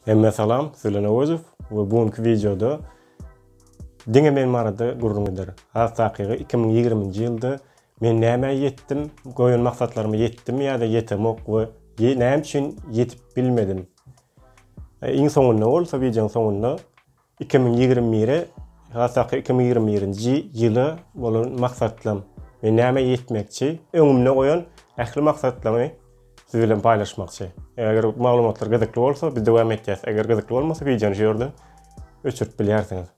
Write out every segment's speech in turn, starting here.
Hemmä salam, Sölen Owezow we bu günki wideoda diňe men barada gürrüň eder. Has takygy iki müň ýigriminji ýylda men nämä ýetdim, goýan maksatlaryma ýetdim ýa-da ýetemok we näme üçin ýetip bilmedim. Iň soňunda bolsa wideonyň soňunda Iki müň ýigrimi biri hassaky iki müň ýigrimi birinji ýyla bolan maksatlam we näme ýetmekçi öňümde goýan ähli maksatlarymy siz bilen paýlaşmakçy. Eger maglumatlar gyzykly bolsa biz dowam etýäs. Eger gyzykly bolmasa wideony şu ýerde öçürip bilýärsiňiz.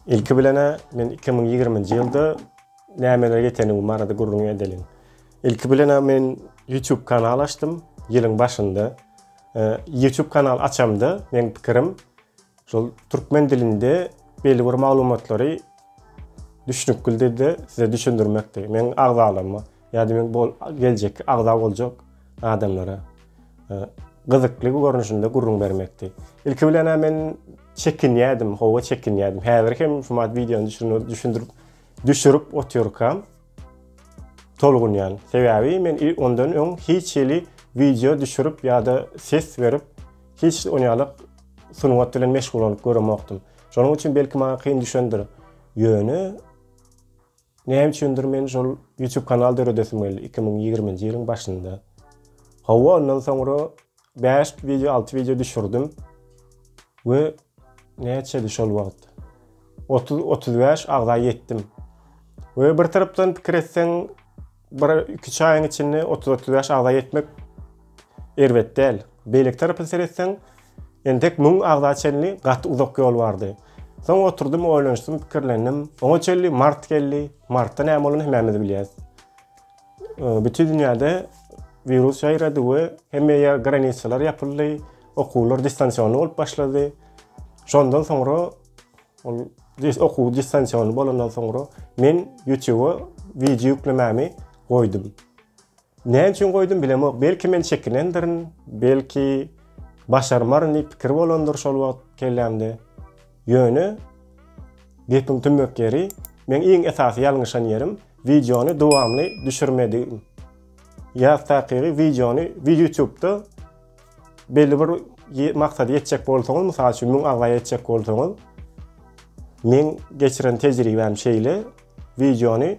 Ilki bilen-ä men iki müň ýigriminji ýylda nämelere ýetendigim barada gürrüň edeliň. Ilki bilen-ä men YouTube kanal açdym, ýylyň başynda. YouTube kanal açamda, meň pikirim, şol türkmen dilinde belli bir maglumatlary düşnükli dilde size düşündirmekdi, meň agzalaryma. Ýa-da men bol geljekki agza boljak adamlara e, gyzykly görnüşinde gürrüň bermekdi. Ilki bilen hem men çekinýärdim, howa çekinýärdim. Häzir hem şu mat wideony düşünip, düşündirip, düşürip otyrkam tolgunýan. Sebäbi men ondan öň hiç hili wideo düşürip ýa-da ses berip, hiç on ýaly sungat bilen meşgullanyp göremokdym. Şonuň üçin belki maňa kyn düşendir. Ýöne Näme üçindir men şol YouTube kanal döredesim geldi iki müň ýigrimi nji ýylyň başynda. Hawa ondan soňra bäş wideo alty wideo düşürdim we näçedi şol wagt otuz otuz bäş agza ýetdim. We bir tarapdan pikir etseň Bir iki çaýyň içinde 30-30 ýaş agza ýetmek erbet däl. Beýleki tarapa seretseň, entek 1000 agza çenli gaty uzak ýol bardy. Soň oturdym, oýlanyşdym, pikirlendim. Oňa çenli mart geldi. Martda näme bolany hemmämiz bilýäris. Bütin dünýäde wirus ýaýrady we hemme ýer granisalar ýapyldy, okuwlar distansionly bolup başlady. Şondan soňra Ol dis okuw distansion bolandan soňra men YouTube wideo ýüklemämi goýdum. Näme üçin goýdum bilemok. Belki men çekinendirin, belki başarmaryn diýip pikir bolandyr şol wagt kellämde. Ýöne gepiň tümmek ýeri, men iň esasy ýalňyşan ýerim wideony dowamly düşürmedigim. Ýa takygy wideony YouTube-da belli bir maksada ýetjek bolsaňyz, mysal üçin 1000 agzaýa ýetjek bolsaňyz, men geçiren tejribäm şeýle, wideony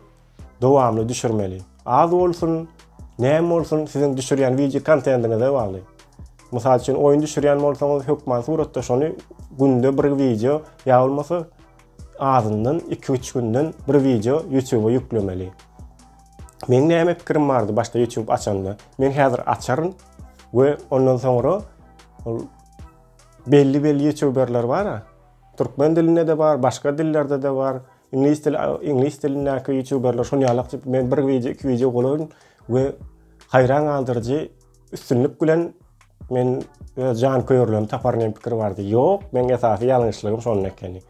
dowamly düşürmeli. Az bolsun, näme bolsun, siziň düşürýän wideo kontentiňize bagly. Mysal üçin, oýun düşürýän bolsaňyz, hökman suratda şony günde bir wideo ýa bolmasa azyndan 2-3 günden bir wideo YouTube-a ýüklemeli. Meň näme pikirim bardy başda YouTube açanda? Men häzir açaryn we ondan soňra ol belli belli YouTuberler bar. Türkmen dilinde de bar, başga dillerde de bar. Ingliz dil ingliz dilindäki YouTuberler şony alak men bir video, iki video golaryn we hayran galdyryjy Üstünlik bilen men öz jan köýerlerimi tapar diýen pikir bardy. Ýok, meň esasy ýalňyşlygym şonda ekeni.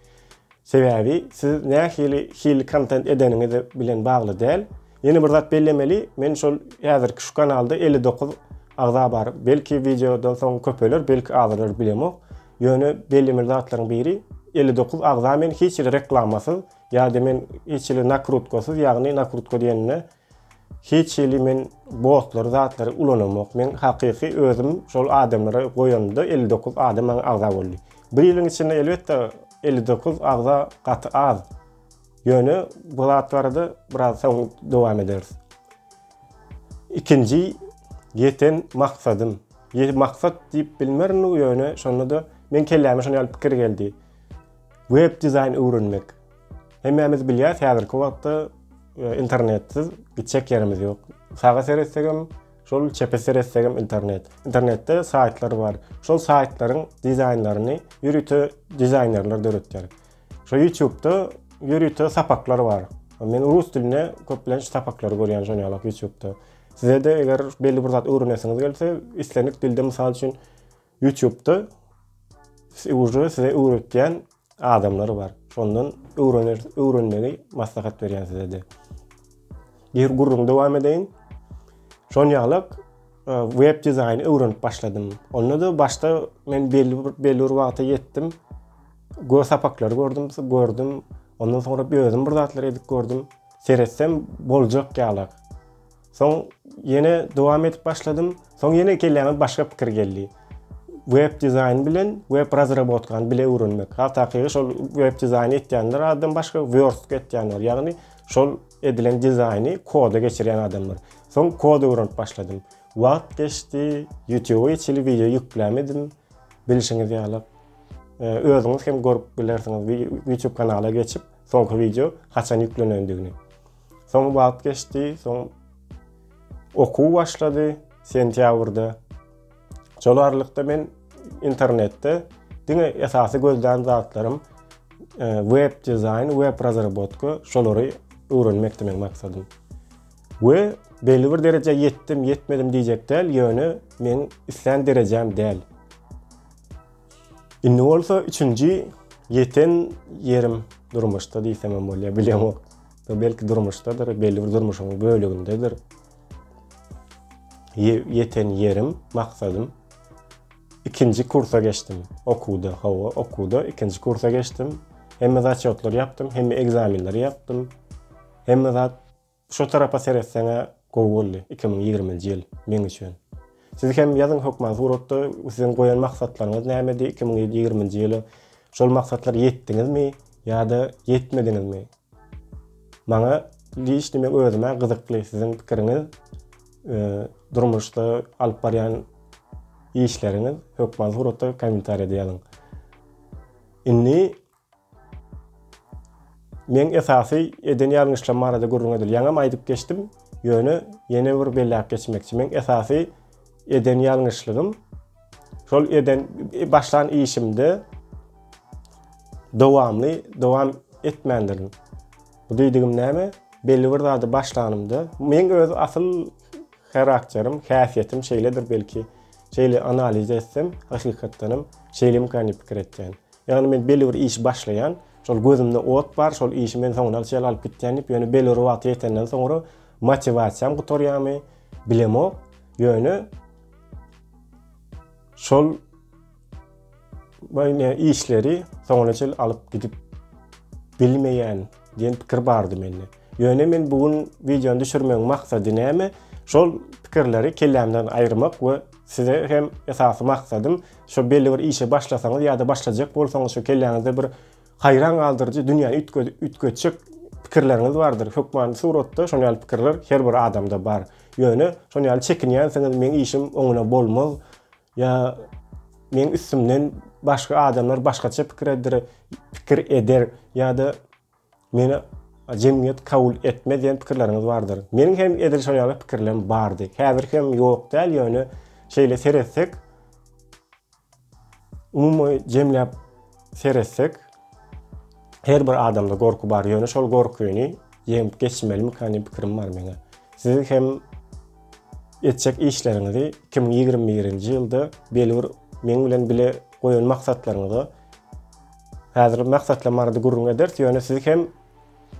Sebäbi siz nähili hil kontent edeniňiz bilen bagly däl. Ýene bir zat bellemeli, men şol häzirki şu kanalda 59 agza bar. Belki wideodan soň köpeler, belki azalar bilemok. Ýöne bellemeli zatlaryň biri 59 agza men hiç hili reklamasyz ýa-da men hiç hili nakrutkasyz, ýagny nakrutka diýende Hiç hili men botlary zatlary ulanamok men hakyky özüm şol adamlara goýanda elli dokuz adam maňa agza boldy. Bir ýylyň içinde elbetde elli dokuz agza gaty az. Ýöne bu zat barada biraz soň dowam ederis. Ikinji ýeten maksadym. Ýe maksat diýip bilmerin ýöne şonda-da men kelläme şon ýaly pikir geldi. Web dizaýn öwrenmek. Hemmämiz bilýäs, häzirki wagtda e, internetsiz gitjek ýerimiz ýok. Saga seretsek hem, şol çepe seretsek hem internet. Internetde saýtlar bar. Şol saýtlaryň dizaýnlaryny ýörite dizaýnerler döretýär. Şu YouTube-da ýörite sapaklar bar. Men rus dilinde köplenç sapaklary görýän şon ýalak YouTube-da. Size-de eger belli bir zat öwrenesiňiz gelse, islendik dilde mysal üçin Ýutubda uje size öwretýän adamlar bar. Şondan öwrener, öwrenmegi maslahat berýän sizede. Ýer gurruň dowam edeýin. Şon ýalak e, web dizaýny öwrenip başladym. Onda da başda men belli bir belli bir wagta ýetdim. Gör sapaklary gördüm, gördüm. Ondan soňra özüm bir zatlar edip gördüm. Seretsem boljak ýalak. Soň ýene dowam edip başladym. Soň ýene kelläme başga pikir geldi. Web dizaýn bilen web razrabotkany bile öwrenmek. Has takygy şol web dizaýny etýänler adam başga word etýänler. Ýagny şol edilen dizaýny koda geçirýän adamlar. Soň kod öwrenip başladym. Wagt geçdi, YouTube içili wideo ýüklämedim. Bilşiňiz ýaly özüňiz hem görüp bilersiňiz YouTube kanala geçip soňky wideo haçan ýüklenendigini. Soň wagt geçdi, soň okuw başlady sentýabrda. Şol aralykda men internetde diňe esasy gözlän zatlarym e, web dizaýn, web razrabotka şolary öwrenmekdi meň maksadym. We belli bir derejä ýetdim, ýetmedim diýjek däl, ýöne men islän derejäm däl. Indi bolsa üçünji ýeten ýerim durmuşda diýsem hem bolýar, bilemok. Bu belki durmuşdadyr, belli bir durmuşyň bölegindedir. Ýeten ýerim, maksadym. Ikinji kursa geçdim. Okuwda, hawa, okuwda ikinji kursa geçdim. Hemme zaçýotlary ýapdym, hemme ekzamenleri ýapdym. Hemme zat şu tarapa seretseňe gowy boldy 2020-nji ýyl meň üçin. Siz hem ýazyň hökman suratda siziň goýan maksatlaryňyz nämedi 2020-nji ýyla? Şol maksatlara ýetdiňizmi ýa-da ýetmediňizmi? Maňa giç diýmek özümä gyzykly siziň pikiriňiz durmuşda alyp barýan işleriňiz hökman suratda kommentariýada ýazyň. Indi men esasy eden ýalňyşlarym barada gürrüň edeli. Ýaňam aýdyp geçdim, ýöne ýene bir belläp geçmekçi. Men esasy eden ýalňyşlygym Şol eden başlan işimde dowamly dowam etmändirin. Bu diýdigim näme? Belli bir zady başlanymda, men öz asyl karakterim, häsiýetim şeýledir belki. Şeýle analiz etsem, hakykatdan hem şeýle gani pikir etýän. Ýagny men belli bir iş başlaýan, şol gözümde ot bar, şol işi men soňuna çenli alyp gitýän diýip, ýöne belli bir wagta ýetenden soňra motiwasiýam gutarýarmy, bilemok. Ýöne Şol Böyle işleri soňuna çel alyp gidip bilmeýän diýen pikir bardy mende. Ýöne men bu gün wideony düşürmegiň maksady näme? Şol pikirleri kellämden aýyrmak we size hem esasy maksadym şu belli bir işe başlasaňyz ýa-da başlajak bolsaňyz şu kelläňizde bir Haýran galdyryjy, dünýäni üýtgedip üýtgetjek pikirleriňiz bardyr. Hökmany suratda şon ýaly pikirler her bir adamda bar. Ýöne şon ýaly çekinýänsiňiz, meň işim oňuna bolmaz ýa meň üstümden başga adamlar başgaça pikir eder, pikir eder ýa-da meni jemgyýet kabul etmez diýen pikirleriňiz bardyr. Meniň hem edil şon ýaly pikirlerim bardy. Häzir hem ýok däl, ýöne şeýle seretsek, Umumy jemläp seretsek, her bir adamda gorky bar, ýöne şol gorkyny ýeňip geçmelimikä diýen pikirim bar meň. Siz hem etjek işleriňizi 2021-nji ýylda belbir meň bilen bile goýan maksatlaryňyza häzir maksatla marady gürrüň ederis, ýöne siz hem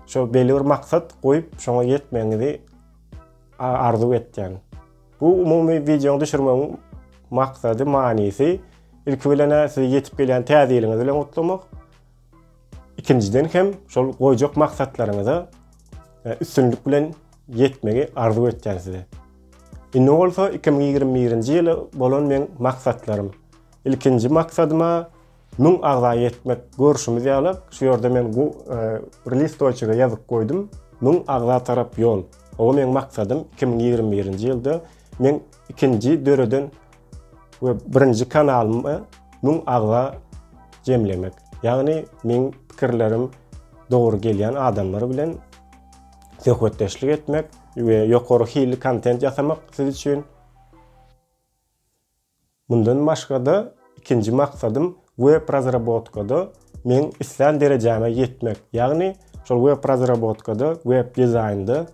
şo belbir maksat goýup, şoňa ýetmegiňizi arzuw etýän. Bu umumy wideony düşürmegiň maksady, manysy ilki bilen sizi ýetip gelýän täze ýylyňyz bilen gutlamak. Ikinjiden hem şol goýjak maksatlaryňyza e, üstünlik bilen ýetmegi arzuw etýän size. Indi bolsa 2021-nji ýyla bolan meň maksatlarym. Ilkinji maksadyma Müň agza ýetmek görşümiz ýaly, şu ýerde men bu bir listoçige ýazyp goýdum, Müň agza tarap ýol. Hawa meň maksadym iki müň ýigrimi birinji ýylda meň ikinji döreden we birinji kanalymy müň agza jemlemek. Ýagny meň pikirlerim dogry gelýän adamlar bilen söhbetdeşlik etmek we ýokary hilli kontent ýasamak siz üçin. Mundan başga-da, ikinji maksadym web razrabotkada meň islän derejäme ýetmek. Ýagny, şol web razrabotkada, web dizaýnda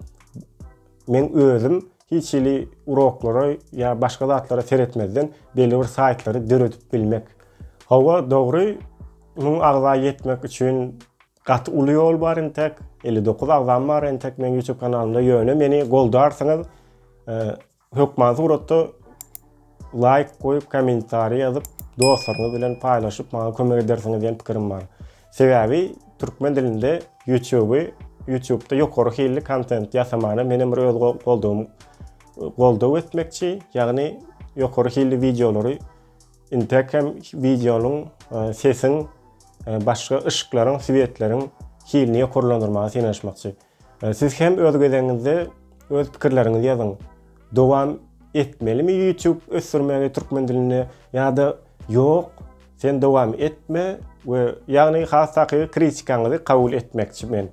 meň özüm hiç hili uroklara ýa başga zatlara seretmezden belli bir saýtlary döredip bilmek. Hawa, dogry, müň agza ýetmek üçin gaty uly ýol bar entek, elli dokuz agzam bar entek meň YouTube kanalymda, ýöne meni goldarsyňyz. Hökman suratda laýk goýup kommentariý ýazyp dostlaryňyz bilen paýlaşyp maňa kömek edersiňiz diýen pikirim bar. Sebäbi türkmen dilinde ýutuby ýutubda ýokary hilli kontent ýasamana menem bir öz goldawym goldaw etmekçi ýagny ýokary hilli wideolary intäk hem wideonyň e, sesiň e, başga yşyklaryň swetleriň hilini ýokarlandyrmaga synanyşmakçy. Siz hem öz gezegiňizde öz pikirleriňizi ýazyň. Dowam etmelimi YouTube ösdürmegi türkmen dilinde ýa-da ýok sen dowam etme we ýagny has takygy kritikaňyzy kabul etmekçi men.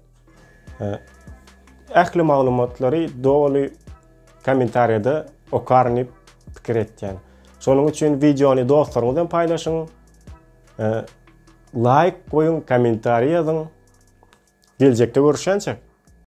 Ähli maglumatlary doly kommentariýada okaryn diýip pikir etýän. Şonuň üçin wideony dostlaryňyz bilen paýlaşyň. Laýk goýuň komentariý ýazyň. Geljekde görüşýänçäk.